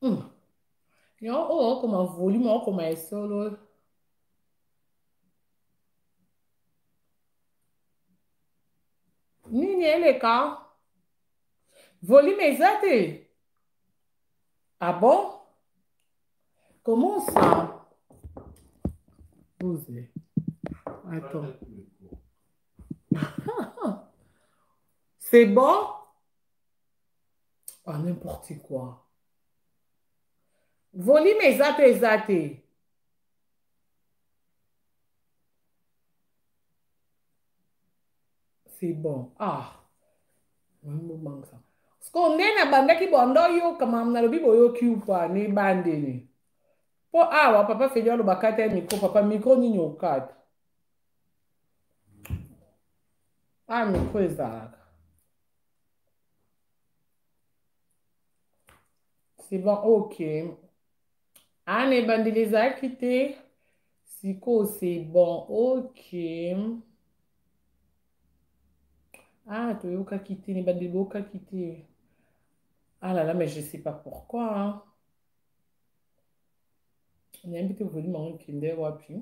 Hmm. yango oyo okoma volume okoma esolo nini eleka volume eza te ah bon comment ça vous attends c'est bon ah, n'importe quoi volume eza to eza te c'est bon ah bobangisa sikoyo nde nabandaki banda oyoka mamu nalobi boyoki upa na ebandeli mpo awa papa feli aloba kata ya mikro papa mikro nini okata a ah, mikro ezalaka C'est bon, ok. Anne ebandi les a quittés. Siko, c'est bon, ok. Ah, toyoka quitté, ne bandi boka quitté. Ah là là, mais je sais pas pourquoi. Hein. Nayebi te volume yango ekende wapi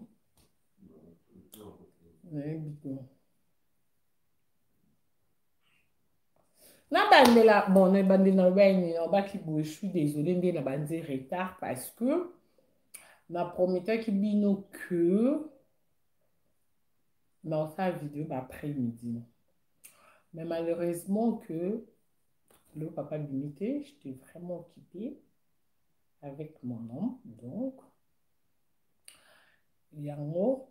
nayebi te nabandela bon na ebandeli naloba ya nini nalobaki boye je suis désolé nde nabanzi retard parce que na prometaki bino que naosala video baaprès midi mais malheureusement que le papa limité j'étais vraiment occupé avec mon homme donc yango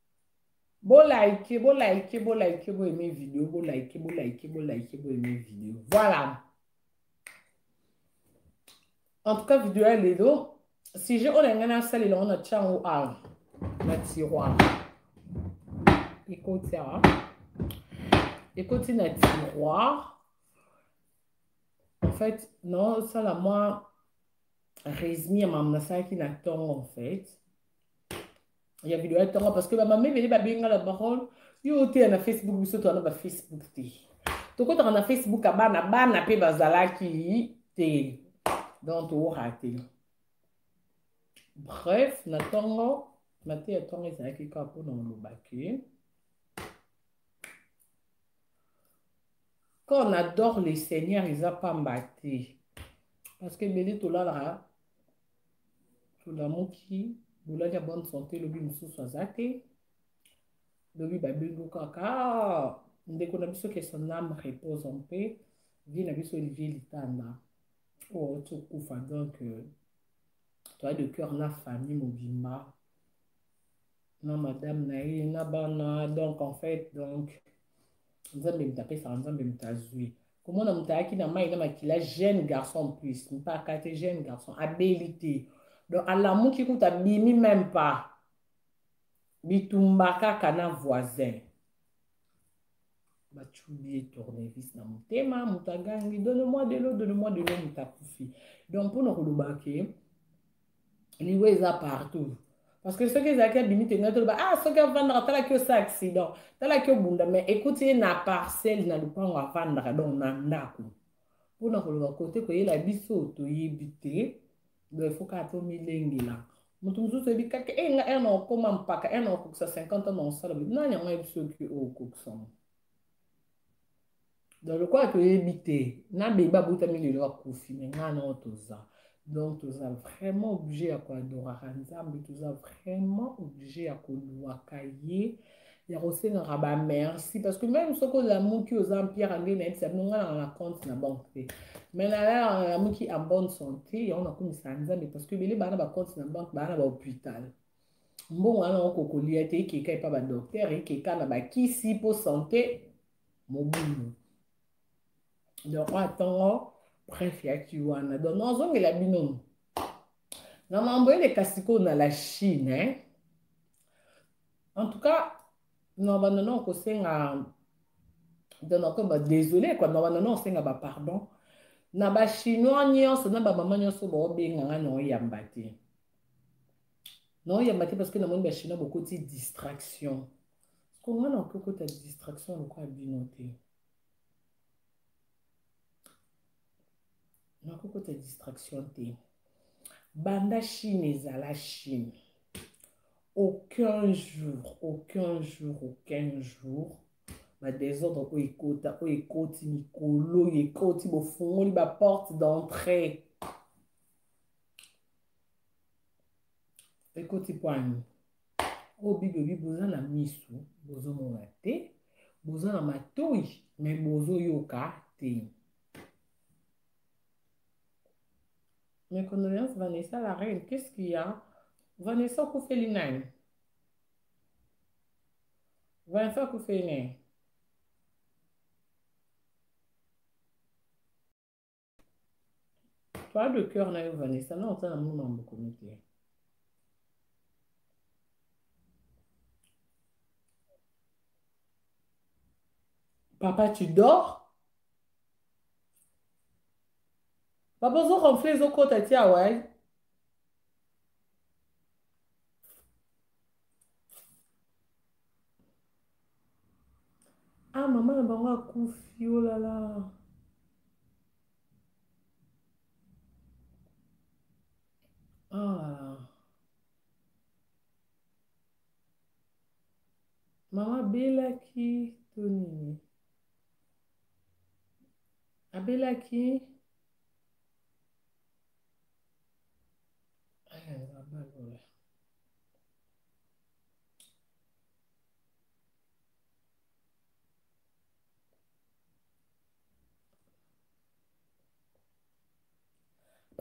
Bo like, bo like, bo like, bo aimer vidéo, bo like, bo like, bo like, bo aimer vidéo. Voilà. En tout cas, vidéo ya lelo, sujet oyo na ngai nasalela ngo natya yango awa na tiroir. Ekoti awa. Ekoti na tiroir. En fait, naosala mwa résumé ya makambo nasalaki na ntongo en fait. ya video ya ntongo parce que bamama ebele babenga la baronne yo oteya na facebook biso toza na bafacebook te tokotaka na facebook ya bana bana mpe bazalaki te donc toorate bref na ntongo mateya ya ntongo ezalaki kaka mpo na olobaki quand on adore le seigneur eza pamba te parce que ebele tolalaka tolamuki bolali ya bonne santé lobi mosusu aza te lobi babengi kaka ah, ndeko na biso ke son ame repose en paix vie na biso olivier litanda oyo oh, tokufa donc euh, toa de cœur na famille mobimba na madame na ye na bana donc en fait donc nzambe moto apesaka nzambe moto azwi komona moto ayaki na mai na makila jeune garçon plus mpaka te jeune garçon abeli te donc alamuki kuta abimi meme pas bitumba kaka na voisin batyubi ye tournevis na motema moto agangi donne moi de l'eau donne moi de l'eau moto akufi donc mpo na koloba ke liwa eza partout parce que soki ezalaki abimi te ngai toloba ah soki avandaka talaki osa accident talaki obunda mais ekuti ye na parcelle na lopango avandaka donc na ndako mpo na koloba kote koyela biso toyebi te donc il faut kaka tomilengela moto mosusu oyebi kaka e nga ere na okoma mpaka ere na okokisa 50 ans na osala nani yango ayebi soki okokisama donc lokola toyebi te na bebe babotami lelo akufi me ngai nao toza donc toza vraiment oblige ya koadoraka nzambe toza vraiment oblige ya koluwaka ye ya kosengaka bamerci parce que même soki olamuki oza mpiaka nde nayebisa bino ngai nanga na compte na banque te mais nalalaka nalamuki en bonne santé yango nakumisaka nzambe parce que ebele baa na bacompte na banque baa na bahôpital mbongo wana okokolia te ekeka epa badoktere ekeka na bakisi mpo sante mobulu donc oyo atongo bref yaki wana donc nazongela bino na mambo eleka sikoyo na la chine hein? en tout cas na banda na okosenga donc nakoyeba désolé kua na banda na osenga bapardon na bachinois nyonso na bamama nyonso baobenga ngai na oyamba te na oyamba te parce que namoni bachinois bokoti distraction Siko nga na okoki kota distraction lokola bino te. Na okoki kota distraction te. Banda Chine ezala Chine. Aucun jour, aucun jour, aucun jour. Ba désordre oyo ekota, oyo ekoti mikolo, oyo ekoti bofungoli ba porte d'entrée. ekoti pwani oyo bibi obi boza na misu bozomona te boza na matoi me bozoyoka te mes condoléances vanessa la reine qu'est-ce qu'il y a vanessa okufeli nani vanessa okufeli nani Parle de cœur na yo Vanessa, na oza na munu mambo komi te. Papa, tu dors? Papa, ozo ronfler, ozo kota ti awa. Eh? ah mama na bango akufi olala oh ah. mama abelaki to nini abelaki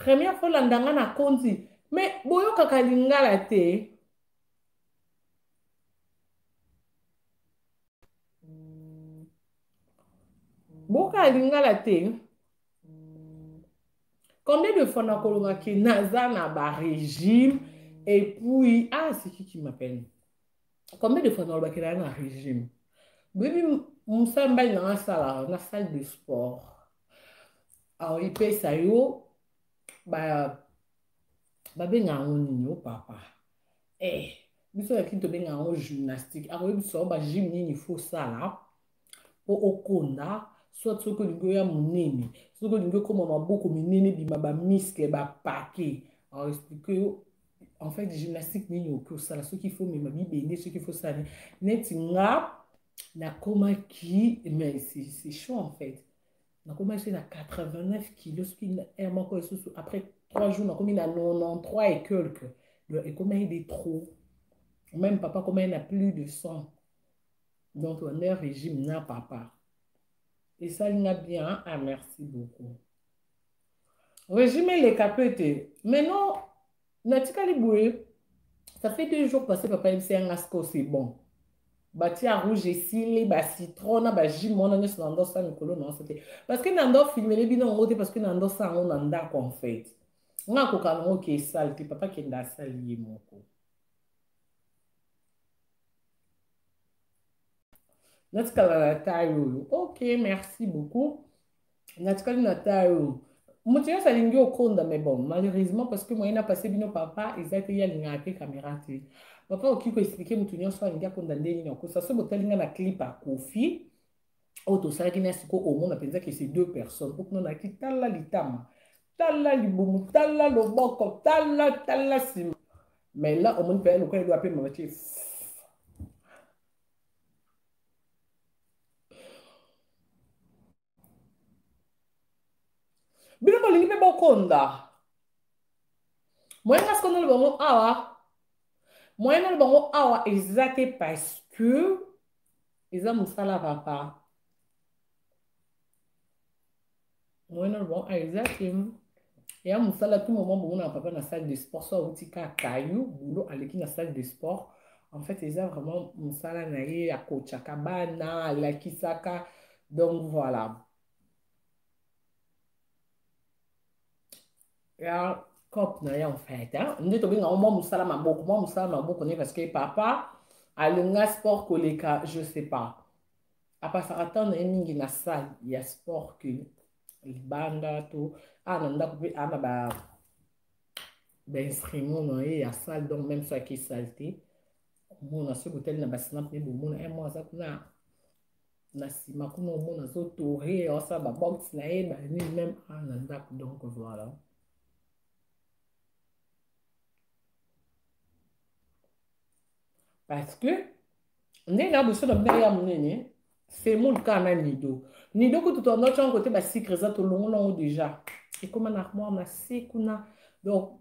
première fois olanda nga na konzi me boyokaka lingala te boka lingala te combien de fois nakolonga ke naza na barégime epuis ah siki qui m'appelle combien de fois nalobaki na na régime boyebi mosala mbali na nasala na salle de sport alors ipesa yo babenga yango nini o papa eh biso na kini tobenga yango gymnastique akoyebisa yo bagym nini fosala mpo okonda soit soki olingi oya monene soki olingi okoma maboko minene bima bamiskle bapake aexplike yo en fait gymnastique nini oki osala soki ifo mema bibende soki ifo sala neti nga nakomaki mais c'est chaud en fait nakomaki na 89 kilo soki heure moko lisusu après 3 jours nakomi na 93 et quelque donc ekomaki de trop même papa akomaki na plus de 100 donc ne régime na papa esali nga bien hein? ah merci beaucoup régime eleka mpe te maintenant natikali boye ça fait deux jours passé papa yebisi ya nga siko c'est bon batia rouge esili bacitron na bajus mwana nyonso na ndosa mikolo na nso te parce que na ndo filmele bino yango te parce que na ndosa yango na ndako en fait nga akoka nango ke esali te papa kenda asali ye moko natikala na taille oyo ok merci beaucoup natikali na taille oyo moto nyonso alingi okonda mais bon malheureusement parce que moyen napase bino papa eza te ye alingaka te caméra te papa okoki koexplike moto nyonso alingi akonda ndenge nini akosa so botali nga na clip akofi oyo tosalaki na siko omona mpenza ke se deux personnes okuna nayaki tala litama tala libumu tala loboko tala tala nsima mais là omoni mpenza lokola eloa mpe mama tie bino bolingi mpe bokonda moyen kasi konolo bango awa moyen nolo bango awa eza te parce que eza mosala papa moyena loba ah, eza te ya mosala tout moment bomona papa na salle de sport so awuti ka kayu bulo aleki na salle de sport en fait eza vraiment mosala na ye akotshaka bana alakisaka donc voilà ya cop na ye en fait nde tobenga yango mwa mosala maboko mwa mosala maboko ne parce que papa alinga sport koleka je sais pas apasaka ntango na ye mingi na salle ya sport ke libanda to aa na ndako mpe aa na ba bainstrument na ye ya salle donc même so ake salle te omona soki botali na basina mpe bomona e mwa aza kuna na nsima kuna omona azotore aosala babox na ye banini meme a na ndako donc voilà parce que nde na boso na bino ya monene semoule kaka na nido nido kutu tondaki yango te basikre eza tolongola yango déjà ekoma na armoire na se kuna donc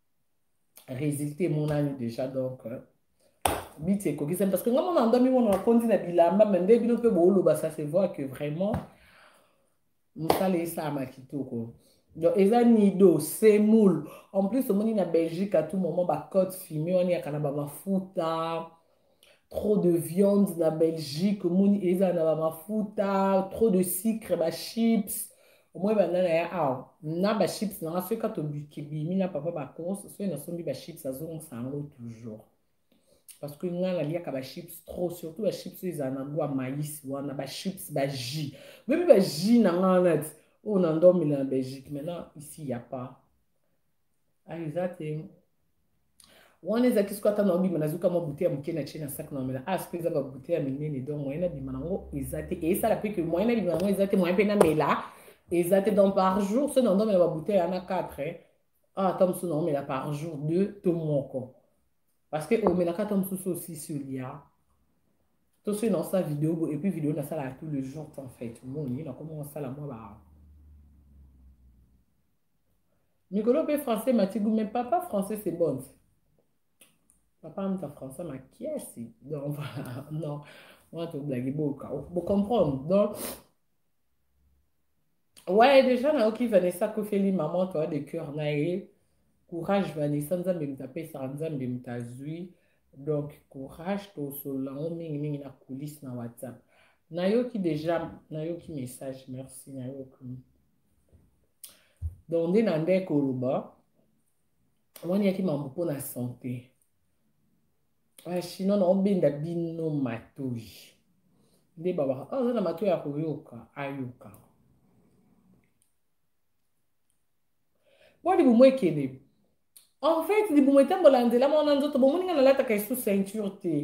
résultat emonani déjà donc euh, biti ekokisami parce que nga mona ndomi mona nakondi na bilamba me nde bino mpe booloba ça se voit que vraiment mosala esalama kitoko donc eza nido semoule en plus omoni na belgique à tout moment bacote fumé wana eyaka na bamafuta trop de viande na belgique omoni ezala na bamafuta trop de sucre bachips omoni banda na ya awa na bachips nanga soki kaka tobimi na papa bacos soki nasombi bachips azongisa yango toujours parce que ngai naliaka bachips trop surtout bachips oyo ezala na gwa maïs wana bachips bajus boyebi bajus na ngai nati oyo na ndomela na belgique maintenant ici ya pas ayo eza te wana ezalaki soki ata naobima nazwi ka mwa bute ya moke na tie na sak naomela as mpe eza babute ya minene donc moyen abima nango eza te esala mpe ke moyen abima nango eza te moyen mpe namela eza te donc par jour soki naomela babute ya na 4 ah, ata mosusu naomela par jour 2 to moko parce que omelaka ata mosusu osisi olia to soki naosala video bo epuis video nasalaka tout le jour en fait omoni nakomi osala mwa ba mikolo mpe français matigu mais papa français c'est bon papa amta français makiasi donc voilà non wana toblagi boka bocomprendre donc ouais déjà nayoki vanessa kofeli maman toa de cœur na ye courage vanessa nzambe moto apesaka nzambe moto azwi donc courage tosolola yango mingimingi na coulisse na whatsapp nayoki déjà nayoki message merci nayoki donc nde na nde koloba wani yaki mambo mpo na sante bachinois na obenda bino matoi nde babaka ah, oza na matoi ya koyoka ayoka mpo libumu ekende en fait libumu etambola nzela mwana nzoto bomoni nga nalataka esu ceinture te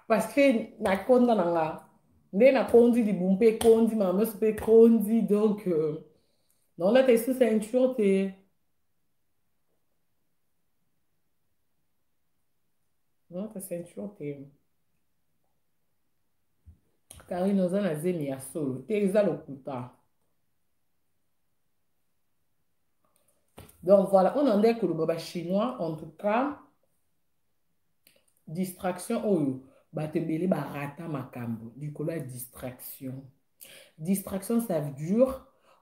parce que nakonda na nga nde nakondi libumu mpe ekondi mamaso mpe ekondi donc euh, naolata esu ceinture te naolata ceinture te karine oza na zemi ya solo te eza lokuta donc voilà oyo na ndai koloba bachinois en tout cas distraction oyo bato ebele barata makambo likolo ya distraction distraction ça dure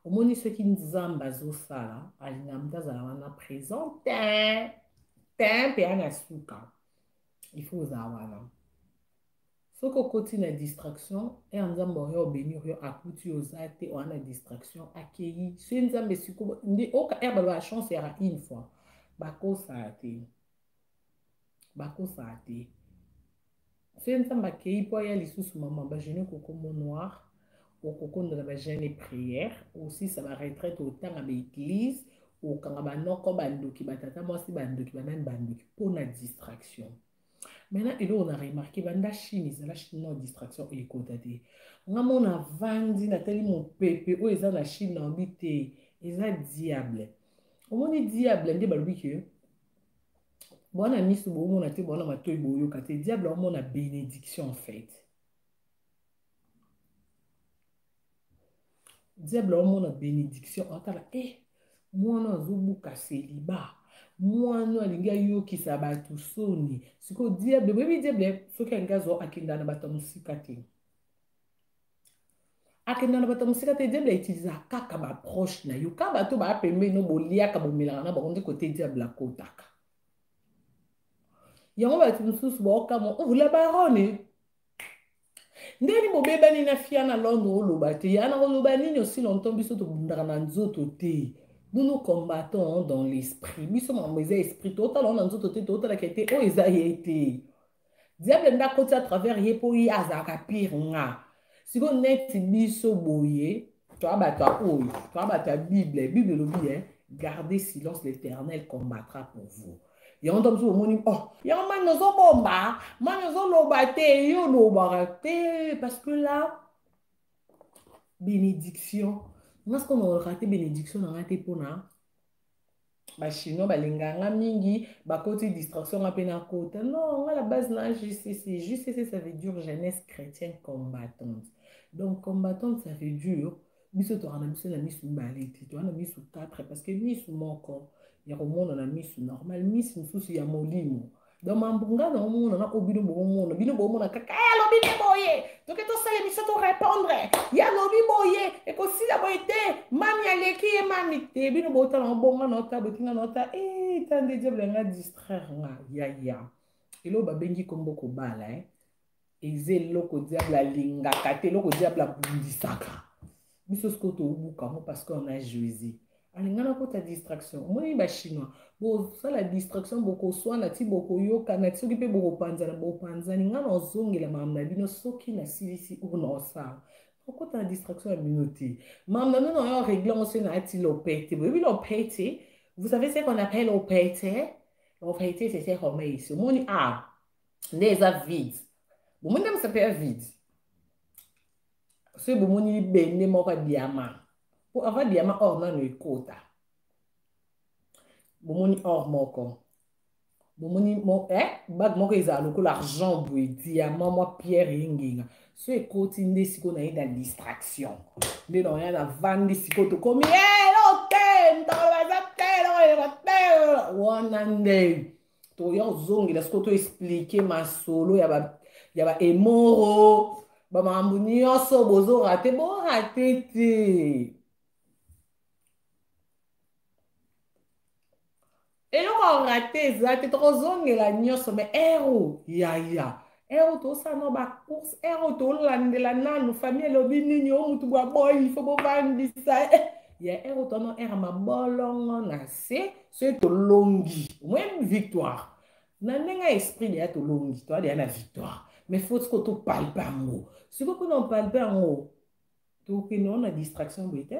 omoni soki nzambe azosala alinga moto azala wana présent te te mpe ana suka il faut ozala wana soki okoti na distraction ere nzambe oyo obenir yo akuti yo oza te oya na distraction akeyi se nzambe siko nde oka ere baloba chance yaka une fois bakosaka te bakosaka te se nzambe akeyi mpo aya lisusu mama bagene kokomo noir okokondela bagene prière osisa baretraite otanga baeglise okanga banoko bandoki batata mwasi bandoki banani bandoki mpo na distraction maintenant eloko na remarke banda chine ezala chinois distraction ekota te nga mona avandi natali mopepe oyo eza na chine na obi te eza diable omoni diable nde balobi ke bwana miso bomona te bwana matoi boyoka te diable omona benediction en fait diable aomona bénédiction atala e eh, mwana azobuka seliba mwana alingi ayokisa bato soni sikoyo diable boyebi diable soki alingi azo akenda na bato ya mosika te akenda na bato ya mosika te diable autiliza kaka baproche na yo ka bato baa pembeni no boliaka bomelaka na bango nde kote diable akotaka yango bato mosusu baokamwa oh, la barone ndeni bobebani na fia na londre oloba te ya na koloba nini osi longtemps biso tobundaka na nzoto te nous combattons dans l'esprit biso makambo eza esprit totala na nzoto te totalaka te oyo eza ye te diable nde akoti à travers ye mpo ye azalaka pire nga sikoyo neti biso boye toa bato ya oyo toa bato ya bible bible elobi eh, gardez silence l'éternel combattra pour vous yango ntango mosusu omoni oh yango mani ozobomba mani ozoloba te yo olobaka te parce que là bénédiction nga sikoyo nakolaka te bénédiction na nga te mpona bachinois balinga nga mingi bakoti distraction nga mpe nakota non nga la base na jcc jcc ça veut dire jeunesse chrétienne combattante donc combattante ça veut dire biso toka na biso na misu mibale te toka na misu 4 parce que misu moko ya komona na misu normal misu mosusu ya molimo donc mambo ngai na omona na oyo bino boomona bino boomona kaka e alobi nde boye toke tosala biso torepondre ye alobi boye ekosila boye te mami aleki ye mami te bino bootala obonga na ota botinga na ota e ta nde diable yanga distraire nga yaya eloo babengi kombo kobala eh? eza eloko diable alingaka te eloko diable abundisaka biso sikoyo towubuka yango parce que on a jouise alinga nakota distraction omoni bachinois bosala distraction bokoswana ti bokoyokana ti soki mpe bokopanzana bopanzani ngai nazongela makambo na bino soki nasilisi oyo naosala okota na distraction ya bino te makambo na bino nayo regle yango soki nayati lopete boyebi lopete vous savez ce qu'on appelle lopete lopete c'est ce qu'on met ici omoni a ah, nde eza vide bomoni nde mosapi ya vide soki bomoni libende moko ya diama mpo ava diama or nano ekota bomoni or moko bomoni eh, bage moko ezala lokola argent boye diama mwa pierre engenga so ekoti nde sikoyo naye na distraction nde naoya navandi sikoyo tokomi elo eh, te ntolo baza te eloko eloko te wana nde toya kozongela sikoyo to explike masolo ya ba ya ba emoro bamakambo nyonso bozorate borate te eloko orate eza te tokozongela nyonso me ero yaya ero eh, oh, tosala no bacourse ero oh, tolandela nanu famille elobi nini o motu bwa boyi ifo bovandisa ya ero tono ere mabolongo na se soki tolongi omoni victoire na ndenge ya esprit deya tolongi toya deya na victoire mais faut siko topalpe yango sikoyo mpona opalpe yango tokende wana distraction boye te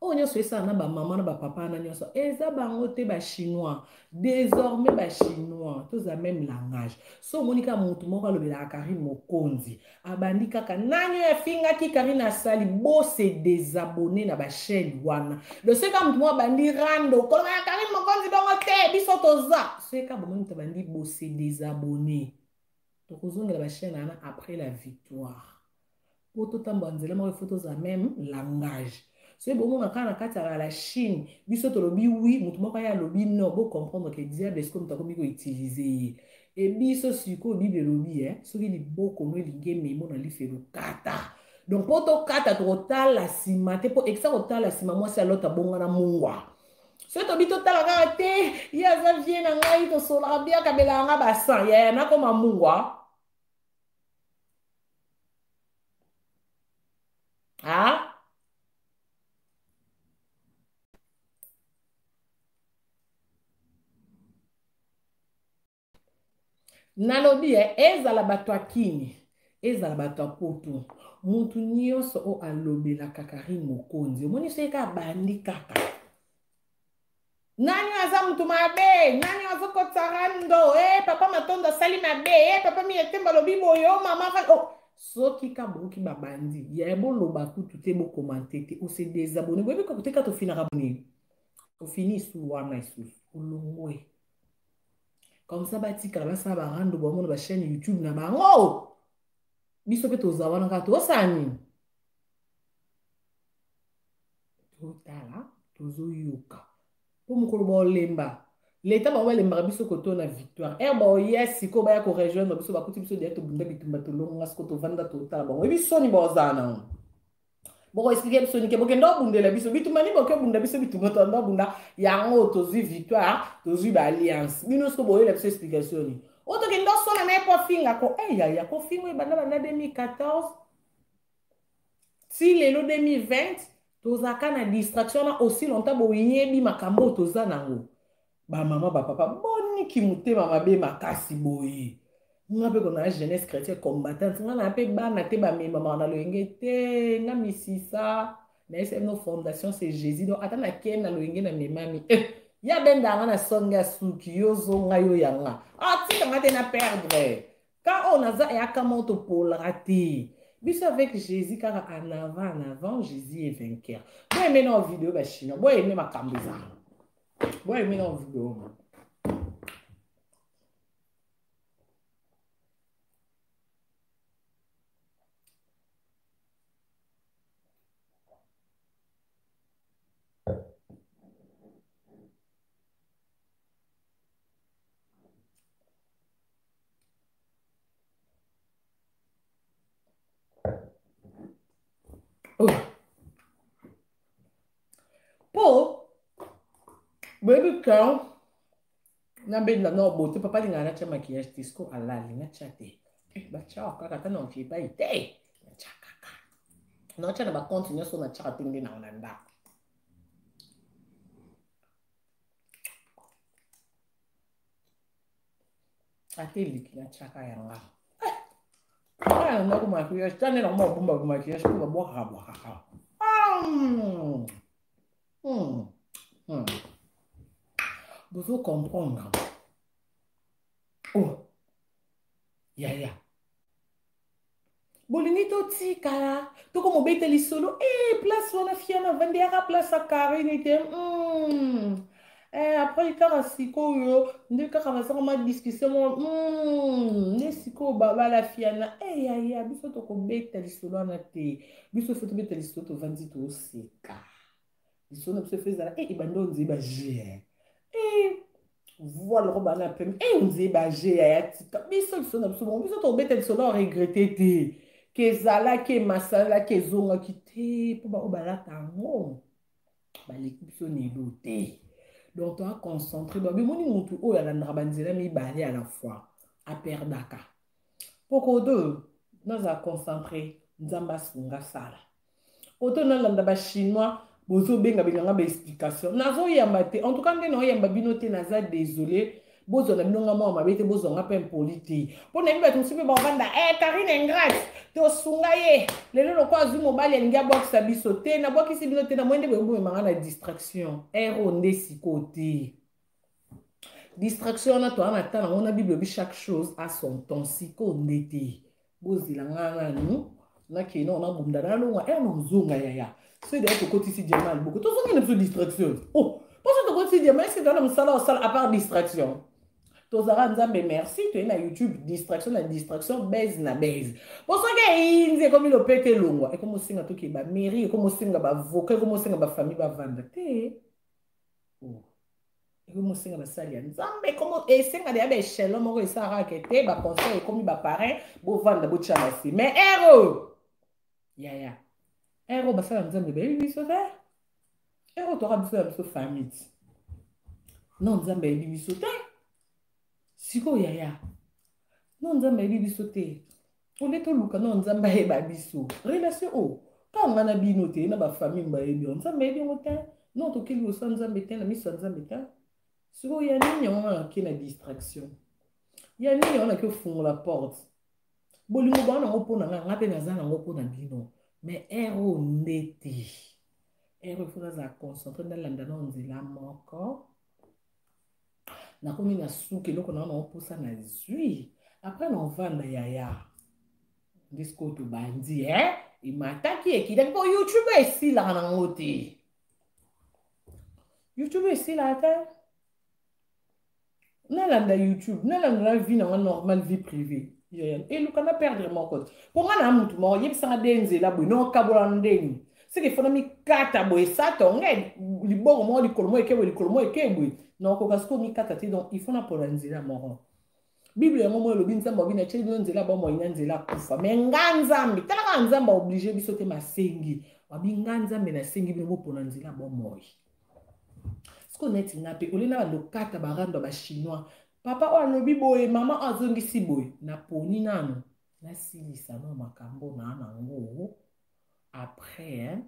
oyo nyonso esala na bamama na bapapa na nyonso eza bango te bachinois désormais bachinois toza même langage so omoni kaka motu moko alobelaka karine mokonzi abandi kaka nani oyo afingaki karine asali bose desabonne na bachaine wana do soki kaka motu moko abandi rando koloba na karine mokonzi bongo te biso toza soki kaka bomoni motu abandi bose desabonne tokozongela bachaine wana après la victoire mpo totambola nzela moko ifo tozala meme langage soki bomona kaka na kati ya la chine biso tolobi wi moto moko aye alobi no bocomprendre ke diable esiko moto akomi koutilize ye e biso sikoyo bible elobi e soki libokono elingi ememo na lifelo kata donc mpo tokata tokotala nsima te mpo ekisa kotala nsima mwasi ya lota bongana mungwa soki tobi totala kaka te ye aza vie na ngai tosolaka biakabelaka ngai basan yaya nakoma mungwa Hein? nalobi eh, ezala bato ya kini ezala bato ya poto motu nyonso oyo alobelaka karine mokonzi omonisi ye kaka bandi kaka nani oyo aza motu mabe nani oyo azokotisa rando e eh, papa matondo asali mabe e eh, papa miyetemba alobi boye o oh, mama oh. soki ka boyoki babandi ya boloba kutu te bokomante te ose desabone boyebi kakoteka tofinaka boni ofini isu wana isusu olongwe comme ça batikala basala barando bamona bachaîne youtube na bango oh! biso mpe toza wana kaka tosala nini totala tozoyoka mpo mokolo baolemba leta bango balembaka biso koto na victoire ere baoya sikoyo baya korejoindre biso bakuti biso deya tobunda bitumba tolonga sikoyo tovanda totala bango oyebi soni baozala nango bokoexplike biso nike bokende obundela biso bitumba nini boke obunda biso bitumba tolanda obunda yango tozwi victoire tozwi baalliance bino siko boyela biso explication nini oyo tokende osona na ye mpo afinga ko eyaya eh, kofinga ebanda banda 2014 ti lelo 2020 tozalaka na distraction wana aussi longtemps boyebi makambo oyo toza nango bamama bapapa boni kimotema mabe makasi boye nga mpe kona na jeunesse chrétien combattant nga na mpe bana te bamemamaka na loyenge te nga misisa nayesa bino fondation c'est jésus donc ata nakei na loyenge na memami eh, ya benda nga na songe ya suki yo zo nga yo ya nga atika ah, nga te na perdre Ka oyo naza yaka moto polra te. Biso avec Jésus kaka en avant en avant Jésus est vainqueur. Bo aimé na vidéo ba chinois, bo aimé makambo eza. Bo aimé na vidéo. po boyebi kan nabenda na obote papa alingaka natya makiyage te siko alali natya te eh, batyaka kaka ata na okipai te natya kaka natya na bakonte nyonso natyaka te nde nao na ndako ate eleki na tiaka ya nga aya na ndako maquillage ta nde nakoma babomba bamaquillage mpo babwakaka bwakaka bozo comprendre o oh. yaya bolingi totikala toko mobete lisolo e eh, place wana fiana vandi yaka place ya karine te mm. eh, après kaka sikoyo nde kaka bazaka ma discussion moko mm. nde sikoyo babala fiana e eh, yaya biso tokobeta lisolo wana te biso fo tobeta lisolo tovandi toseka lisolo na biso fo ezala e ebanda onzeba jien e voa loko bana ya peme e nze baje ya ya tika biso lisolo na biso bongo biso tobeta lisolo ya regrete te ke ezalaki emasalaki ezongaki te mpo baoyo balata yango baleki biso nelo te donc toa concentre donc bimoni motu oyo alandaka banzela mibale à la fois aperdaka mpo kodo nazala concentre nzambe asunga sala koto nalanda ba chinois bozobenga benganga ba explication nazoyamba te en tout cas nde naoyamba bino te naza désolé bozwa na bino nga mwa mabe te bozwa nga mpe impoli te mpo nayebi bato mosusu mpe bakovanda e eh, karine ingrate tosunga ye lelo lokola azwi mobali alingi abwakisa biso te nabwakisi bino te na moye nde boyebomema nga na distraction ero nde sikoyo te distraction wana toa na ntan yango na bible obi chaque chose a son temps sikoyo nde te bozela ngai nanu nakei nao nabunda nalongwa e eh, nazonga yaya soki daya tokotisi diama ya liboko tozongi na biso distraction o oh, mposo tokotisi diama eske toa na mosala osala apart distraction tozalaka nzambe merci toyei na youtube distraction na distraction base na base po soki eyinzi ekomi lopete elongwa ekomosenga tokeba mairie ekomosenga bavoka ekomosenga bafamille bavanda te oh. ekomi mosenga basali ya nzambe ekomi esenga deya baechelon moko esalaka ke te baconseil ekomi baparin bovanda botya basi mais ero yaya ero basala nzambe bayebi biso te ero toka biso ya biso famille non nzambe ayebi biso te sikoyo yaya non nzambe ayebi biso te ole toluka nao nzambe ayeba biso relation oyo oh, ntango ngai na bino te na bafamille bayebi yango nzambe ayebi yango te no toke liboso ya nzambe te na miso ya nzambe te sikoyo ya nini yango wana nake na distraction ya nini yango nake ofungola porte bolingo baa nango mpo na ngai ngai mpe naza nango mpo na bino mais ere oyo nde te ere efo nazala concentre nalanda nao nzela moko nakomi na suki eloko na wana opusa na zwi apres na ovanda yaya ndisiko tobandi e eh? emataki ekitaki mpo youtube esilaka nango te youtube esilaka te nalanda youtube nalanda na vie nanga normal vie privée eluka na perdre moko te mpo ngai na motu moko yebisanga de nzela boye nokabola ndenge seke fona mikata boye sata onge liboko moko likolo moko eke boye likolo moko eke boye na okoka sikoyo mikata te donc il faut napona nzela moko bible yango moko elobi nzambe obi na tyeli bino nzela ya bomoi na nzela akufa me nga nzambe tala kaka nzambe aoblige biso te masengi wabi nga nzambe nasengi bino bopona nzela ya bomoi sikoyo neti nga mpe olie na bando kata barando ya bachinois papa oyo alobi boye mama oyo azongisi boye naponi nano nasilisa no makambo na nango après hein?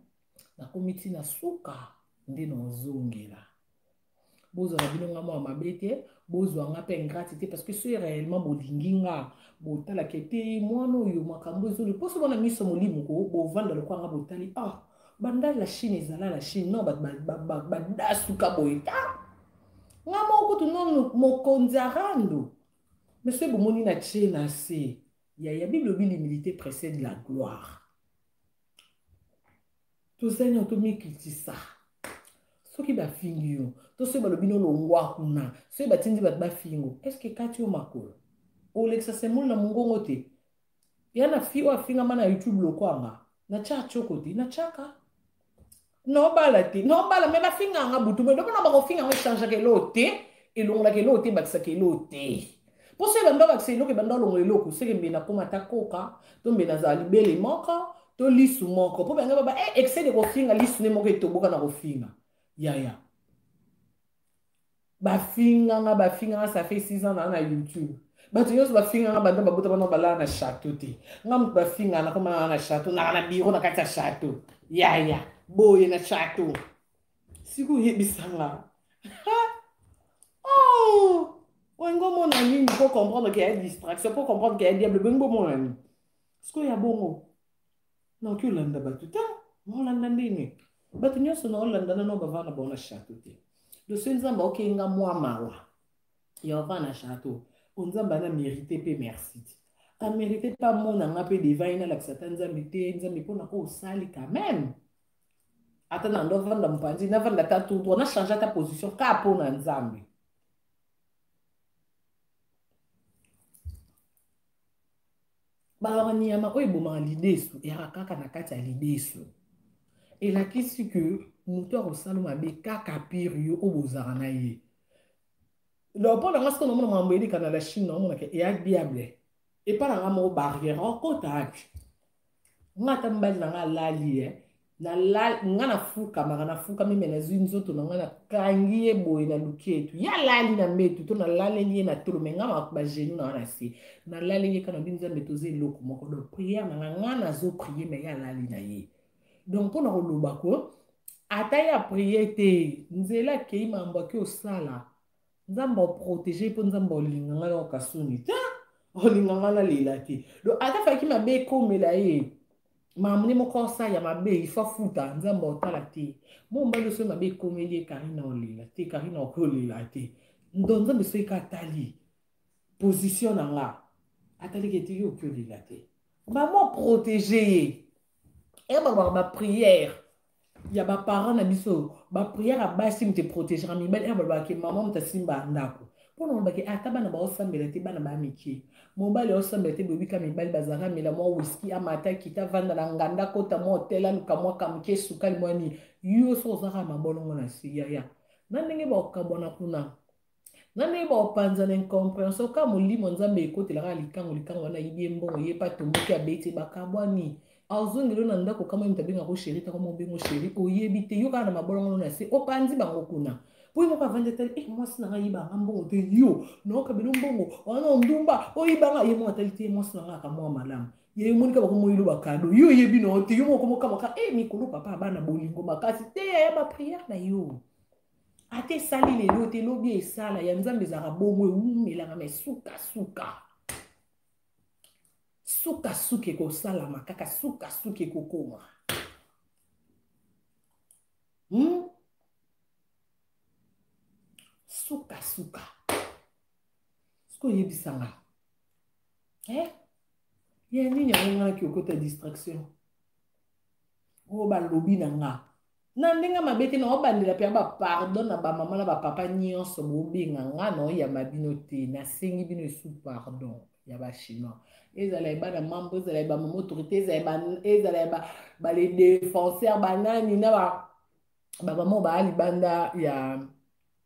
nakomi ti na suka nde naozongela bozwa na bino nga mwa mabe te bozwa nga mpe ingrate te parce que soki réellement bolingi nga botalaka ete mwana oyo makambo ezoli mposo bana miso molimo ko bovanda lokola nga botali ah banda la chine ezala la chine non badasuka boye ta nga moko kutu no mokonzi arando monsieur bomoni na tie na se Ya ya Bible obi l'humilité précède la gloire. Tozali na tomikitisa. Soki bafingi yo, to soki balobi no longwa kuna, soki batindi bato bafingo, est-ce que kati yo makolo? Olekisa semoli na mongongo te. Ya na fi oyo afingama na YouTube lokwanga, na tya choko te, na tyaka. nobala te nobala me bafinga yanga butu me domona bakofinga yango echangaka eloo te elongolaka eloo te ebakisaka eloo te mposo ebanda obakisa eloko ebanda olongola eloko seke mbe nakoma ata koka to mbe nazala libele moko to lisu moko mpo banga baba e excès de kofinga lisu ne moko etoboka na kofinga yaya bafinganga bafinganga ça fait 6 ans naa na youtube bato nyonso bafinganga banda babota bana balala na chateau te nga moto bafinganga nakoma naa na chateau naa na biro na kati ya chateau yaya boye na chateau siko oyebisanga oh! olingi omona nini po comprendre ke ya distraction po comprendre ke ya diable bolingi bomona nini sikoyo ya bongo naoki olanda bato te olanda ndenge bato nyonso na olanda nano bavaa na bango na chateau te do soki nzambe aokei nga mwa mawa ya bavaa na chateau o nzambe ana mérité mpe merci te amérité mpe amona nga mpe devai nalakisa ata nzambe te nzambe mpona oyo osali quand même ata na ndo avanda mopanzi navanda ata tour na change ata position ka mpo na nzambe baloba nyama oyo ebomaka lidesu eyaka kaka na kati ya lidesu elakisi ke moto ya kosala mabe kaka pire yo oyo bozala na ye leopold anga soki namona makambo eleka na la chine naomonaka eya diable epa na nga moko barrière okota wapi nga ata mobali na nga alali ye eh. nga nafukamaka nafukami me nazwi nzoto na ngai nakangi ye boye naluki etu ye alali na mbetu to nalaleli ye na tolo me nga bagenu na wana se nalaleli ye kana bi nzambe toza eloko moko donc priere na nga nga nazoprie me ye alali na ye donc mpo na koloba ko ata ye aprie te nzela akei mambo ake osala nzambe oprotege mpo nzambe olinga ngai na okasuni te olinga ngai nalela te do ata faki mabe ekomela ye mamune moko osala ya mabe ifo afuta nzambe otala te mo mobali osoki mabe ekomeli ye karina olela te karina okoki olela te ndo nzambe soki ka atali position na nga ataliki ete yo okoki olela te bamo protege ye eya balobaka bapriere ya ba parents na biso ba prière ya basi moto eprotegera mibali ena balobaka ke mama moto asimba ndako mpo na olobaki ata bana baosambela te bana baya mike mobali aosambela te boyebika mibali bazalaka mela mwa wiski amata kita vanda na nganda kota mwa hotel aluka mwa kamuke sukali mwa nini yo so ozalaka mabolongo na se yaya na ndenge bakabwana kuna nga ndenge baopanza na incomprehension kaka molimo nzambe ekotelaka na likango likango wana ayibi ye mbongo ye pa tomboki abeti bakabwani azongelo na ndako kama ye moto abengako sheri tako mobengo sheri oyebi te yo kaka na mabolongono na se opanzi bango kuna mpo ye moko avandi atali e eh, mwasi na ngai ayibanga mbongo te yo naoka bino mbongo wana ondumba oyibanga ye moko atali te ye mwasi na ngai aka mwa malamu ye omoni kaka komoyilo bakado yo oyebi na yo te yo moko mokamaka e eh, mikolo papa abana bolingo makasi te yaya bapriere na yo ata esali lelo te lobi esala ya nzambe ezalaka bongo ewumelaka mai sukasuka sukasuka ekosalama kaka sukasuka ekokoma hmm? sukasuka soki oyebisa nga eh? ya nini yango nganaki okota distraction oyo oh, balobi na nga na ndenge mabe te naobandela mpe ba pardon na bamama na bapapa nyonso bobenga nga naoyamba bino te nasengi bino esu pardon ya bachinois ezala ya bana mambo ezala ya bamama autorité ezala ya bale défenseur banani na bamama baa libanda ya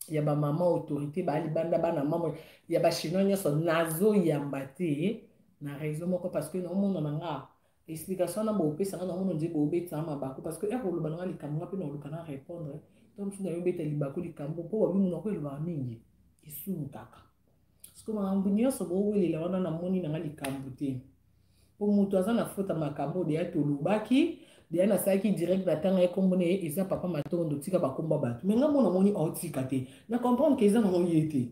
ya ba mama autorité ba libanda bana mama ya ba chinois nyonso nazo yamba te na raison moko parce que na omona na nga explication na bopesa nga na omona nje bobetisa mabaku parce que ere oloba na nga likambo nga mpe na oluka na répondre to mosusu na yo obeta libaku likambo mpo babi monoko elobaka mingi esumu kaka siko makambo nyonso bowelela wana namoni nanga likambo te mpo moto aza na fota makambo deya tolobaki deya nasalaki direct na ntanga ye nkombo na ye eza papa matondo tika bakomba bato me ngambo namoni aotika te na comprendre ke eza nango ye te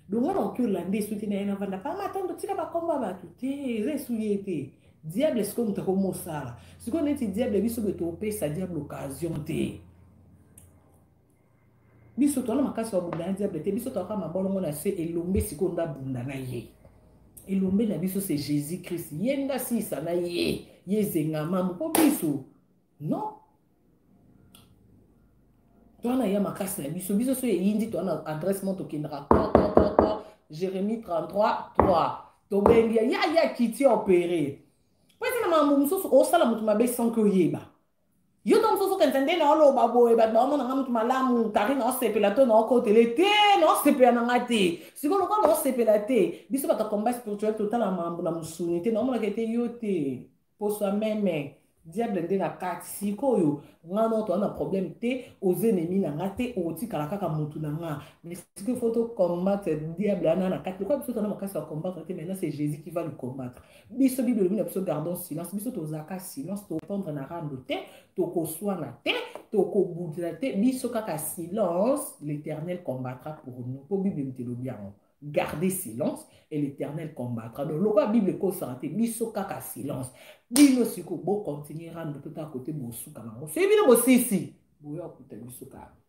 donga naoki olanda esu te na ye navanda papa matondo tika bakomba bato te eza esu ye te diable sikoyo moto akomi osala sikoyo neti diable biso boye topesa diable occasion te biso toza na makasi ya kobunda na diable te biso tozalaka mabolongo na se elombe sikoyo nde abunda na ye elombe na biso se jésus christ ye nde asilisa na ye ye ezengama mpo biso non toza na ye makasi na biso biso so eyindi toza na adresse mo tokendaka kaka jérémie 33 3 tobengi ya ya kiti opere mpo eza na makambo mosusu osala moto mabe sans ke oyeba yo ntango mosusu okanisa nde naoloba boye bato baomona nga moto malamu kari naosepela to naokotele te naosepela na nga te sikoyo lokola naosepela te biso bato ya combat spirituel totala mambo na mosuni te naomonaka ete yo te poswa meme diable nde na kati sikoyo nga noto wana problème te oza enemi na nga te okotikala kaka motu na nga mais sikoyo fo tocombattre diable wana na kati lokola biso tona makasi ya combattre te maintenant c'est jésus qui va le combattre biso bible elobi na biso gardon silence biso tozalaka silence topendre na rando te tokoswana te tokobudela te biso kaka silence l'éternel combattra pour nous mpo bible moto elobi yango garder silence et l'éternel combattra donc lokola bible ekosaka te biso kaka silence bino sikoyo bocontinue rando mpe kaka kote bosuka bango soki bino bosisi boya kokuta biso kaka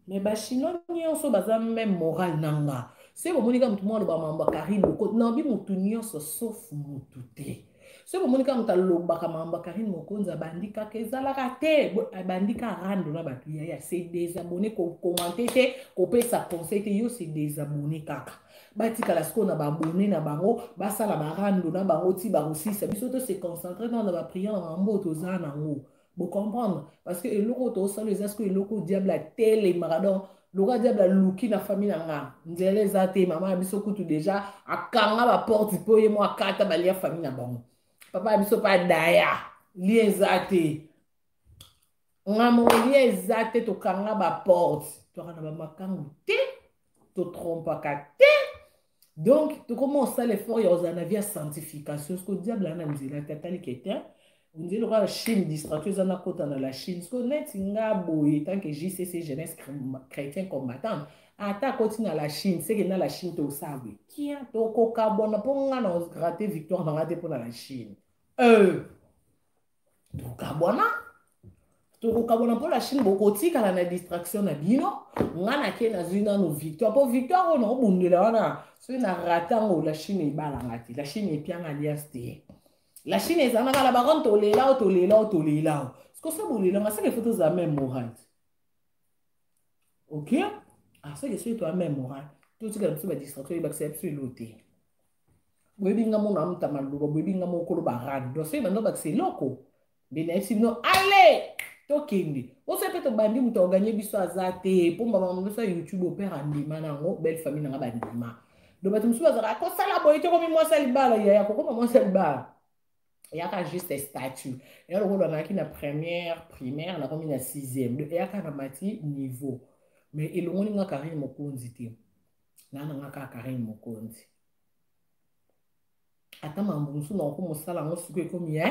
mais ba chinois nyonso baza même morale na nga soki bomoni kaka motu moko aloba mambo ya karine mokote naobi motu nyonso sauf motu te soki bomoni kaka motu alobaka mambo ya karine mokonzi abandi kaka ezalaka te abandi ka rando na bato ya ya se desabone kokomante te kopesa conseil te yo se desabone kaka batikala sikoyo na baabone na bango basala barando na bango ti bakosisa biso to se concentre nao na bapriere na mambo oyo toza nango Vous comprenez Parce que eloko to solo eza ce que eloko diable a tele maradon. Loka diable a luki na famille na nga. Nzela eza te maman biso kutu déjà akanga ba porte po ye moi kata ba lia famille na bango. Papa biso pa daya. Lien eza te. Nga mo lien eza te to kanga ba porte. To kana ba makangu te. totrompaka te donc tokoma osala effort ya kozala na vie ya sanctification siko diable ana nzela te atali ke te ondie lokola la chine distraction eza nakota na la chine siko neti nga boye tanke jcc jeunesse chrétien combattante ata akoti na la chine seke na la chine tosala boye kia tokokabwana mpo nga na grate victoire na nga te mpo na la chine euh. tokabwana tokokabwana mpo na chine bokotikala na distraction na bino ngai nake nazwi nano victoire mpo victoire oyo naobundela wana soki na rata ngo la chine ebalanga te la chine epianga alias te la chine ezalaka la baronne tolela o tolela o tolela o sikoso bolelanga seke fo tozala meme morale ok aseke ah, soki toya meme morale totikala biso badistraction ebakisa biso elo te boyebi nga mona amuta maloba boyebi nga moko koloba rad donc soki banda obakisa eloko nde nayebisi bino ale tokende oso mpe tobandi moto aoganye biso aza te mpo mbama moso ya youtube opere andima na yango belle famille na nga bandima donc bato mosusu bazalaka kosala boye tokomi mwasi ya libala yaya kokoma mwasi ya libala eyaka juste statut eya lokola nazalaki na première primaire nakomi na sixième donc eyaka na mati niveau mais elongoli nga karine mokonzi te na na nga kaka Karine Mokonzi ata mambo mosusu nakoki mosala yango sikoyo ekomi ye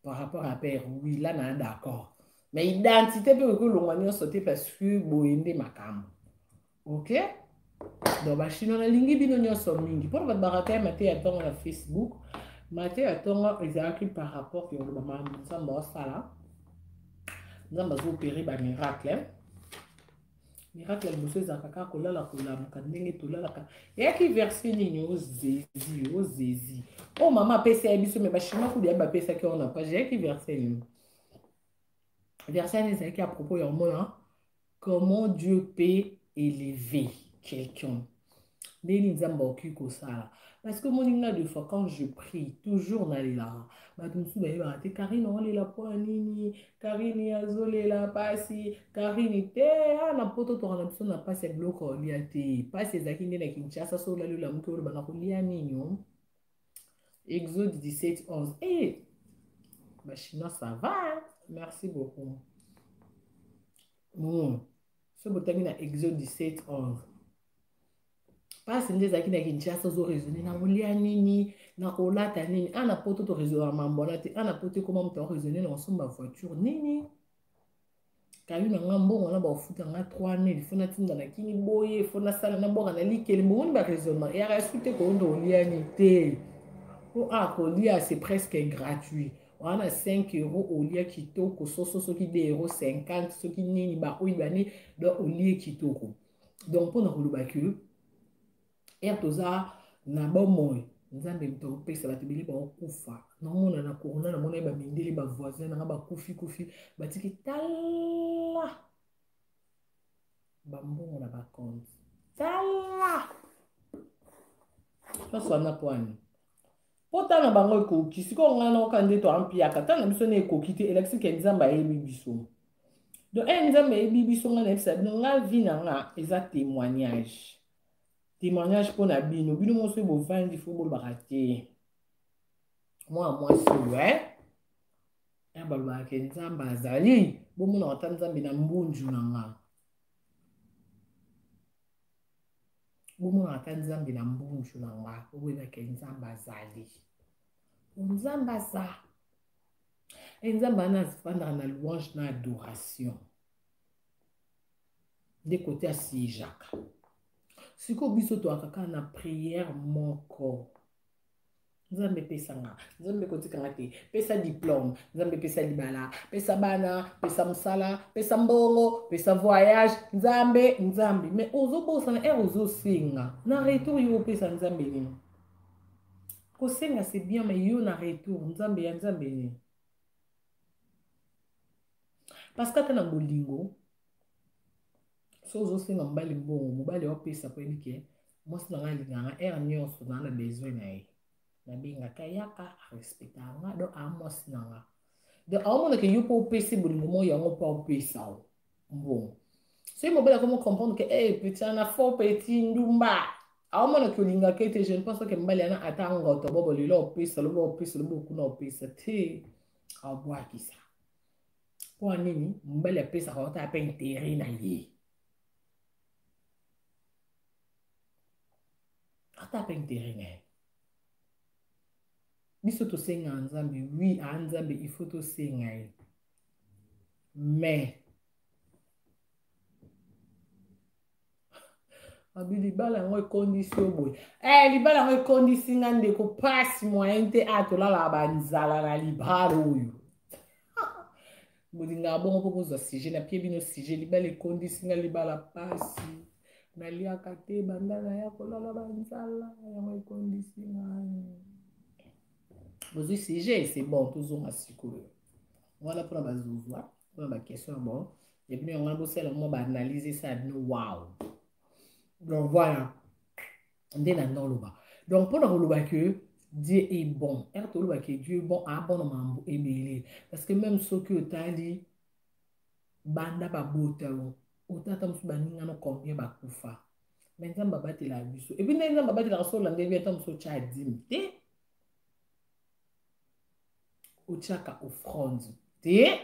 par rapport à père wila na d'accord mais identité mpe okoki olongwa nyonso te parce que boye nde makambo ok donc bachinois nalingi bino nyonso mingi mpona bato barataya mate ya ntongo na facebook mate ya ntongo ezalaki par rapport ke oloba mambo nzambe asala nzambe azoopere bamiracle miracle ya liboso ezalaka kaka kolala kolamuka ndenge tolalaka eyaki verse nini ozezi oh, ozezi oh, oyo oh, mama apesi ya biso me bachinois kude yabi bapesaki yango na page eyaki verse nini verse yango ezalaki ya propos ya omona comment dieu peut élever quelqu'un ndenge nini nzambe akoki kosala parce que omoni nga de fois quand je prie toujours nalelaka bato mosusu bayebaka te karine olela mpo ya nini karine azolela mpasi karine te a ah, na poto toka na biso na mpasi ya biloko olia te mpasi ezalaki nde na kinshasa so olali olamuki oloba na kolia nini o oh? exode 17 11 e eh! bachinois ça va merci beaucoup mm. soki botangi na exode 17 11 mpasi nde ezalaki na kinshasa ozo raisonne na kolia nini na kolata nini a na poto toraisonaka mambo wana te a na poto ekoma moto akoraisonne na kosomba voiture nini kayu na nga mbongo wana bakofuta nga 3000 fo natinda na kini boye fo nasala na bwaka na likeli bomoni baraisonnement eyaka esu te koyonda oliani te mpo a kolia c'est presque gratuit wana 5 euro olia kitoko soso soki 2 euro 50 soki nini baoyo bane donc olie kitoko donc mpo na koloba ke ere toza na bomoi nzambe moto akopesa bato ebele baokufa naomona na corona namona ye bamindele bavoisin nanga bakufi kufi batiki tala bambongo na bakonte tala nyonso wana mpo ani mpo ntango na bango ekoki sikoyo ngai naoka nde toampiaka ntango na biso na ekoki te elakisi ke nzambe ayebi biso donc e nzambe ayebi biso ngai nayebisa bino ngai vi na nga eza témoignage témoignage mpo na bino bino moso oyo bovandi fo bolobaka te mwana mwasi oyo e ya balobaka ke nzambe azali bomonaka ata nzambe na mbunzu na ngai bomonaka ata nzambe na mbunju na nga oboyebake nzambe azali po nzambe aza e nzambe ana azifandaka na louange na adoration nde kote asijaka sikoyo biso toyaka kaka na priere moko nzambe pesa nga nzambe kotika nga te pesa diplome nzambe pesa libala pesa bana pesa mosala pesa mbongo pesa voyage nzambe nzambe me ozobosana ere eh, ozosenga na retour yo opesa nzambe nini kosenga se bien me yo na retour nzambe ya nzambe nini parce que ata na bolingo so ozosenga mobali mbongo mobali aopesa mpo yebi ke mwasi na ngai alingaka nga ere nyonso naa na besoin na ye nabengaka yaka arespectaka nga do aa mwasi na nga do aomonaka yo mpo opesi bolingo moko yango mpo aopesa o mbongo soki mobali akomi comprendre ke e petit ana faux petit ndumba aomonaka olingaka ete je ne pense pas ke mobali yana ata ngoto bobo lelo opesa lobo opesa lobo okuna opesa te aobwakisa mpo ya nini mobali apesaka wata ape intere na ye ata ape intere na ye biso tosengaka nzambe wi aa nzambe ifo tosenga ye mais abi libala yango ekondisi yo boye eh, libala yango ekondisi nga ndeko pasi moyen te a ah, tolalaka banzala na libala oyo bolingaka bongo mpo bozwa sujet napie bino sujet libala ekondisi nga libala pasi naliaka te banda naya kolala banzala yango ekondisi nga bozwi sujet c'est bon tozonga sikoyo wana mpona bazozwa mpona baquestion bon ya bino yango wana bosala mwa baanalyse esala bino wow donc voilà nde na noloba donc mpo na koloba ke dieu est bon ere toloba ke dieu est bon abona mambo ebele parce que même soki otali banda babota yo otata mosusu baningano combien bakufa me nzambe abatelaka biso epuis ndenge nzambe abatelaka so olanda ebi ata mosusu otya adimi te otyaka offrande te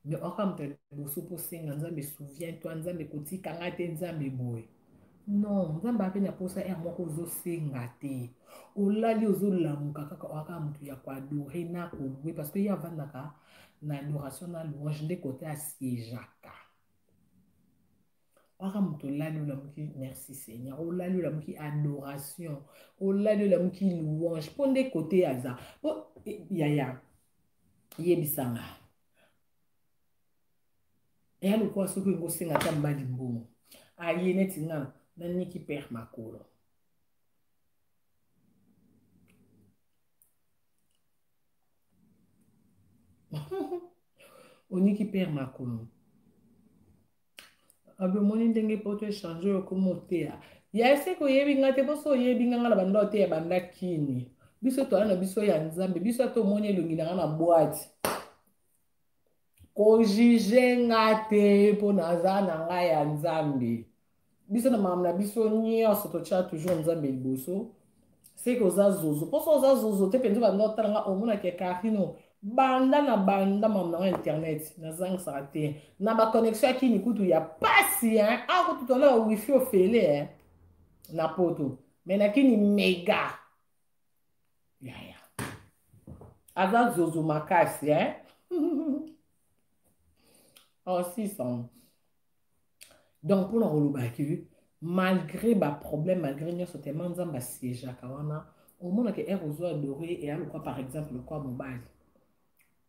mais okamuta liboso mpo osenga nzambe souviens toi nzambe kotika ngai te nzambe boye non nzambe ape na mposa ere moko ozosenga te olali ozolamuka kaka oaka motu ya koadore na kolue parce que ye avandaka na adoration na louange nde kote asiejaka oaka motu olali olamuki merci seigneur olali olamuki adoration olali olamuki louange mpo nde kote aza mpo eh, yaya ya. yebisa nga eya lokola soki olingi osenga ata mbali mbongo aye neti nga naniki pere makolo oniki pere makolo abomoni ndenge poto echange oyo okoma oteya ya eseke oyebi ngai te mposo oyebi ngai ngai na banda oteya banda kini biso toala na biso ya nzambe biso ata omoni elongi na ngai na bwati kojuge nga te mpo naza na ngai ya nzambe biso na makambo na biso nyonso totya toujours nzambe liboso seke oza zozo mposo oza zozo te mpenza banda otala nga omonaka carino banda na banda mamu na nga internet nazangisaka te na baconnexion ya kini kutu ya pasi akutu tona ya wifi ofele na poto me na kini mega yaya aza zozo makasi eh? oh, 600 donc mpona koloba ke malgré baproblème malgré nyonso tellement nzambe asiegeaka wana omonaka ere ozwa adore eya lokwa par exemple lokwa mobali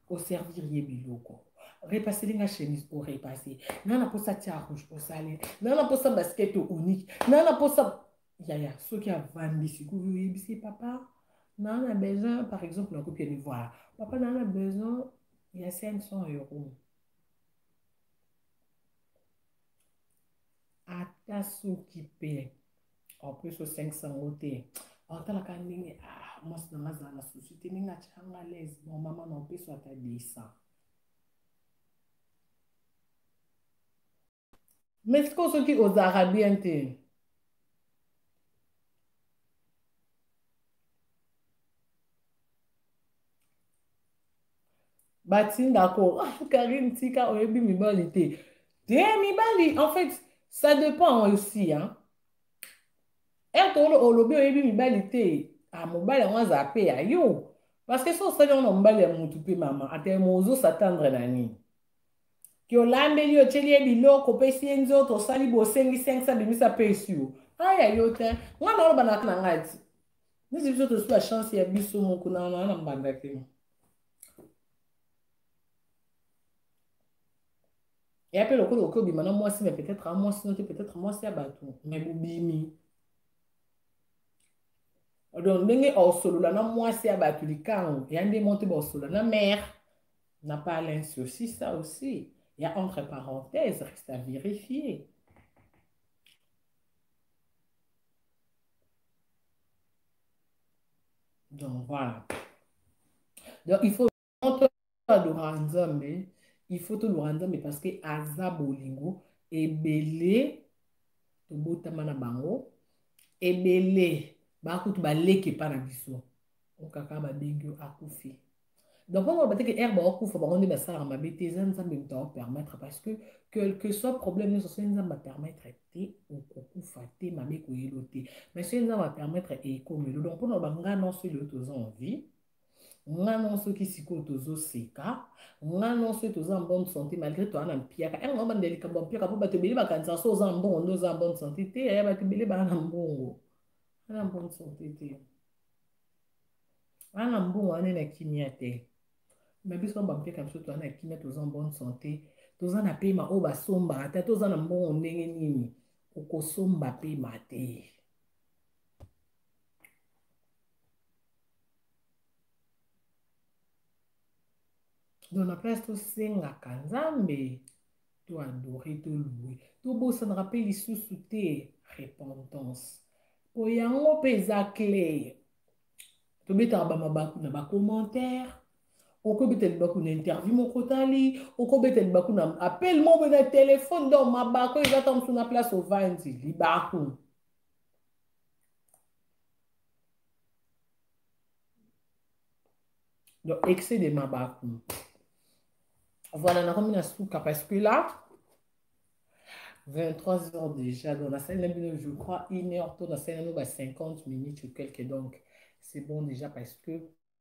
oservir ye biloko repaseli nga chemise orepase nga na mposa tia rouge osale nga na mposa baskete onike nga na mposa yaya soki avandi sikoyo oyebisi papa naa na besoin par exemple nakoki ya nivoire papa naa na besoin ya 500 euro ata soki mpe opesi o 500 yango te otalaka ndenge ah, mwasi na nga azala na susi te ndenge atyanga lese bon mama na opeso ata 200 mais sikoyo soki ozalaka bien te batinda ko ah, karine tika oyebi mibali te te mibali en fait ça dépend aussi hein ete olobi oyebi mibali te ah, mobali yango aza mpe ya yo parce que so osali yango na mobali ya motu mpe mama atelema ozosatandre na nini ke olambeli otyeli ye biloko opesi ye nzoto osali bosengi 5 abimisa mpe esi yo aya yo te nga na oloba na ngai ti nisi biso tosi bachance ya biso moko na na mbanda te eya mpe lokola okoki obima na mwasi me peut-être a mwasi no te peut-être mwasi ya bato me bobimi donc ndenge osolola na mwasi ya bato likango eya nde mo te baosolola na mare na pas linsi aussi ça aussi ya entre parenthèse reste à vérifier Donc voilà. Donc il faut tolora nzambe il faut tolora nzambe parce que aza bolingo ebele tobotama na bango ebele bakutu baleki epa na biso okaka babengi yo akufi donc wana oloba te ke heure baokufa bango nde basalaka mabe te eza nzambe moto aopermettre parce que quelque soit problème nyonso soki nzambe apermettre te okokufa te mabe koyelo te mais soki nzambe apermettre ekomelo donc mpona oloba ngai nonso elelo toza en vie nga non soki sikoyo tozoseka nga non soki toza en bonne santé malgré toa na mpiaka yango eh, obanda likambo ya mpiaka mpo bato ebele bakanisaka so oza na mbongo nde oza na bonne santé te ya eh, bato ebele baa na mbongo ana bonne santé te wana mbongo wana na kimia te me biso na bampeka biso toza na kimia toza en bonne santé toza na pema oyo basombaka te toza na mbongo ndenge nini okosomba pema te donc na place tosengaka nzambe to adore to loue tobosanaka mpe lisusu te repentance mpo yango mpe eza cle tobetaka bamabaku na bacommentaire okobeta libaku na interview moko otali okobeta libaku na appel moko na telefone donc mabaku eza ta mosu na place ovandi libaku donc excès de mabaku voilà nakomi na suka parce que là 23 heures déjà donc nasali na bino je crois une heure to nasali nano ba 50 minutes ou quelque donc c'est bon déjà parce que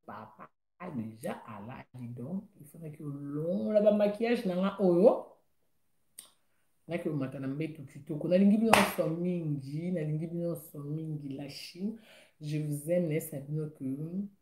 papa déjà alali donc il faudaki olongola bamaquillage na nga oyo naki omata na mbetu kitoko nalingi bino nyonso mingi nalingi bino nyonso mingi la chine je vous aime nayesa bino que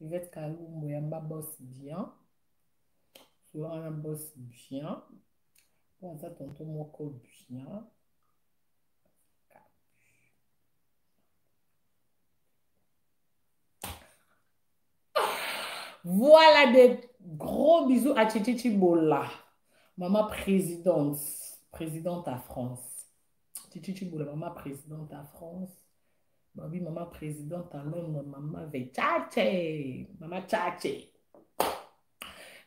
Yvette Kalumbo yamba boss bien solo wana boss bien mpo aza tonto moko bien voilà de gros bisous à Chichi Chibola mama présidente présidente à France Chichi Chibola mama présidente à France Babi mama president à Londres, mama Vechache, mama Chache.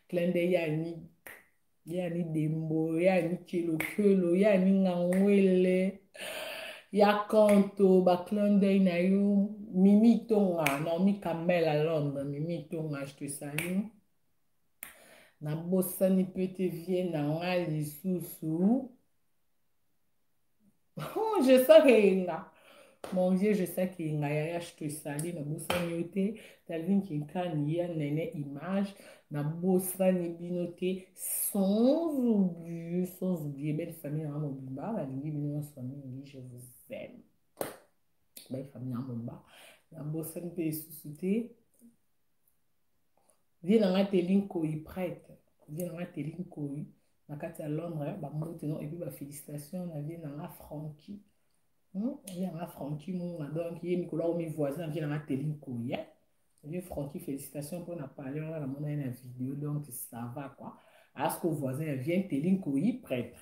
Clin d'œil ya ni ya ni dembo, ya ni kelo kelo, ya ni ngangwele. Ya kanto ba clin d'œil na yo, Mimi Tonga, Naomi Kamel à Londres, Mimi Tonga, je te salue. nabosani mpe te vie na ngai lisusu je sais que yenga mon vieux je sais que yenga yaya je te sali na bosani yo te dalvin kinkani ya nene image na bosani bino te sans oublier sans oublier belle famille na mobimba nalingi bino nyonso mingi je vous aime belle famille na mobimba na bosani mpe lisusu te vie na ngai teli nkoyi prête vie na ngai teli nkoyi na kati ya londres bamoti no epuis bafélicitation na vie na nga franki hmm? vie na nga franki muna donc ye mikolo akomi voisin na vie na nga teli nkoyi eh? vie franki félicitation mpo na pale wana namona ye na video donc ça va quoi asko voisin ya vie teli nkoyi prêtre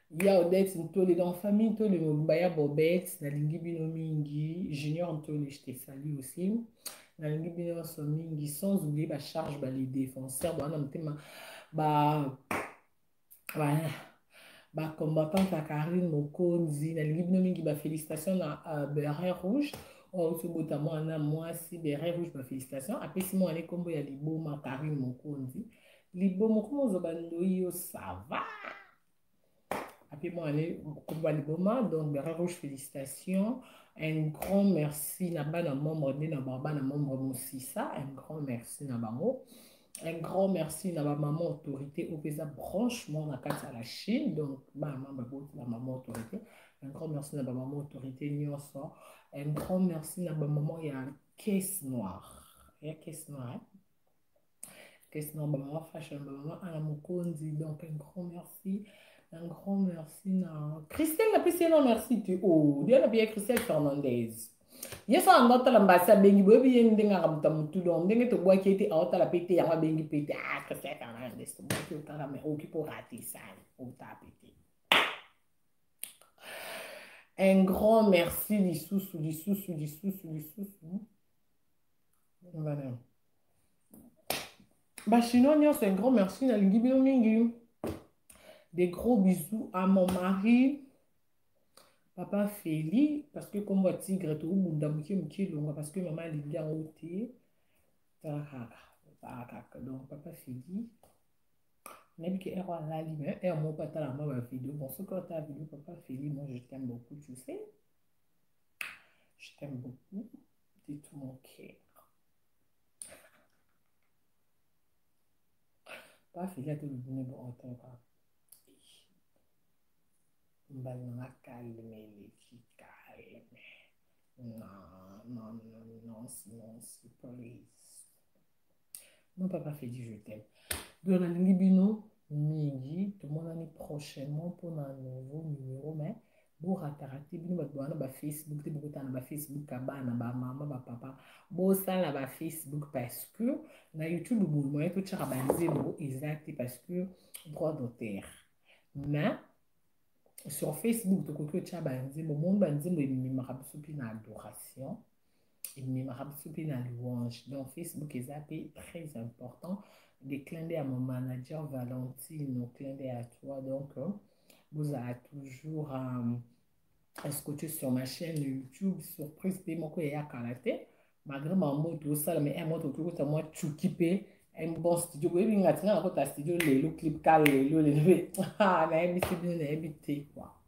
ya odette ntole dans famille ntole mobimba ya bobette nalingi bino mingi junior ntole je te salue aussi nalingi bino nyonso mingi sans oublier bacharge bale défenseur bawana motema ba voilà bacombattante ya karine mokonzi nalingi bino mingi bafélicitation na uh, berin rouge oyo oh, tobota mwana mwasi berin rouge bafélicitation apesi mwana ekombo ya liboma karine mokonzi liboma okomozoba ndoyi yo sava Après moi, aller au combat de Boma, donc Bera Rouge, félicitations. Un grand merci na bana membre de na bana membre Moussissa. Un grand merci na bango. Un grand merci na ba maman autorité au pesa branchement na carte à la Chine. Donc, ba maman bot la maman autorité. Un grand merci na ba maman autorité Nyonso. Un grand merci na ba maman ya caisse noire. Ya caisse noire. Hein? kesi na bamama fashion bamama ana mokonzi donc un grand merci un grand merci na christelle napesi ye na merci te o oh, diana biya christelle fernandez ye so anda otala mbasi abengi boyebi ye ndenge aka moto motu donc ndenge tobwaki ye te aotala mpe te yango abengi mpe te ah christelle fernandez tobwaki otala mai oki mpo ratisani ota mpe te un grand merci lisusu lisusu lisusu lisusu voilà Bah, chinois c'est un grand merci na lingi bino mingi des gros bisous à mon mari papa feli parce que comme ya tigre tokobunda moke moke elonga parce que mama alingi yango te tarakaka donc papa feli nayebi ke ero alali mais ero moko atala mwa bavideo bon soki ata video papa feli moi je t'aime beaucoup tu sais je t'aime beaucoup de tout mon cœur bafeli ate libune bootolo kaka mbali na makalme eleki kalme non non non non non please non papa fedi je t'aime donc nalingi bino mingi tomonani prochainement mpona nouveau numero mais borataka te bino bato bawana bafacebook te bokotana na bafacebook ya bana bamama bapapa bosala bafacebook parce que na youtube boye moye totyaka banzembo eza te parce que droit d'auteur mais sur facebook tokoki otya banzembo moni banzembo ememaka biso mpe na adoration ememaka biso mpe na louange donc facebook eza mpe très important de clin d'œil à mon manager valentino clin d'œil à toi donc euh, bozala toujours euh, escote sur ma chaîne youtube surprise mpe moko eya kala te malgré mambo tosala mais un moto tokota mwa cuki mpe un bon studio boyebi nga tina nakota studio lelo clip ka lelo lelo nayebisi bino nayebi te quoi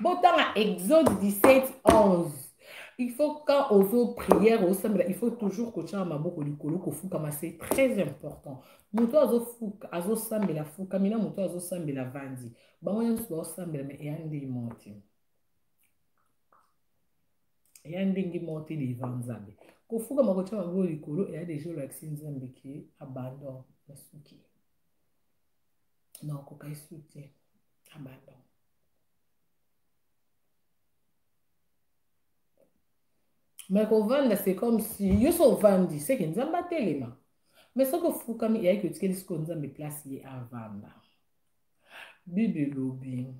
botanga exode 17 11 il faut quand ozo prière osambela il faut toujours kotyaka maboko likolo kofukama c'est très important moto azofuka azosambela fukami na moto azosambela vandi bango nyonso baosambela me eya ndenge moko te eya ndenge moko te deva nzambe kofukama kotya maboko likolo eya deja olakisi nzambe ke abandon nasuki nakoka esu te abandon me kovanda c'est comme si yo so ovandi seke nzambe atelema me soki ofukami eyaki otikeli sikoyo nzambe place ye avanda bible elobi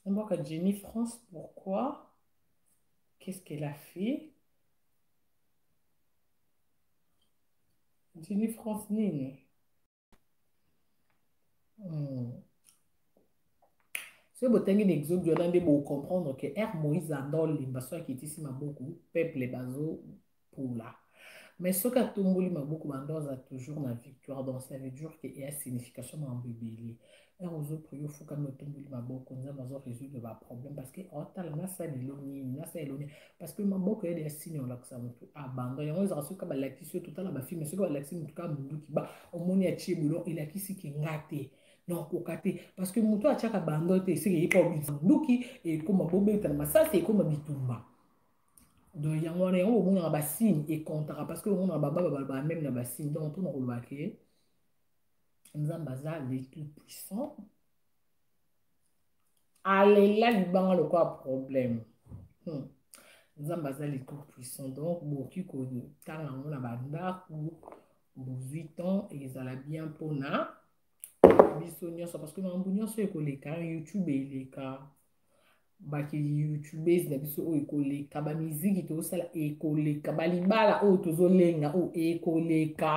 mboka jenny france pourquoi qu'est ce qu'elle a fait jenny france nini Hmm. soki botangi na exode wana nde bocomprendre ke r moïse anda olemba soki akitisi maboko peuple bazopola mais soki atomboli maboko banda aza toujours na victoire donc ça veut dire ke eya signification mambo ebele ere ozoprie ofukami otumboli maboko nzambe azo résoudre baproblème parce que otala nasala elo nini nasala elo nini parce que maboko yede ya sini olakisa motu abandon yango ezaka soki balakisi yo totala bafilme soki balakisi motu kaka monduki ba omoni atie bulo elakisi ke nga te nakoka te parce que motu atiaka bando te esika eyeka obikisa monduki ekoma bobetana masasi ekoma bitumba donc yango wana yango omonaka basigne ekontaka parce que omonaka bababa balobaka meme na basigne donc mpona kolobaka nzambe aza le tout puissant alela libanga lokola problème hmm. nzambe aza le tout puissant donc bokoki kotanga yango na bandako bozwi temps ezala bien mpona biso nyonso parce que makambo nyonso ekoleka youtube eleka baki youtubes na biso oyo ekoleka bamiziki tozosala ekoleka balibala oyo tozolenga oyo ekoleka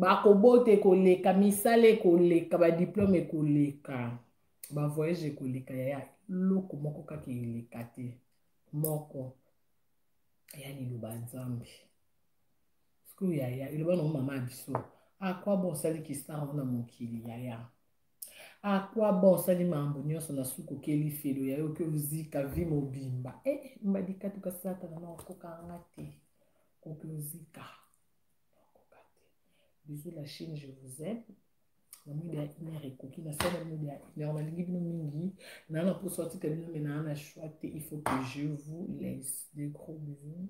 bakobota ekoleka misala ekoleka badiplome ekoleka bavoyage ekoleka yaya eloko moko kaka eleka te moko ya liloba nzambe sikoyo yaya eloba nango mama ya biso akwa ah, bosali kistar ona mokili yaya a quoi bon osali makambo nyonso na suku okeli felo ya yo oke ozika vi mobimba e eh, mbadi katuka satana na okokanga te oke ozika okoka te bisous la chine je vous aime na mwinda ya une heure ekoki nasala mwinda ya une heure nalingi bino mingi naa na mposa otika bino me naa na choix te il faut que je vous laisse de gros bisous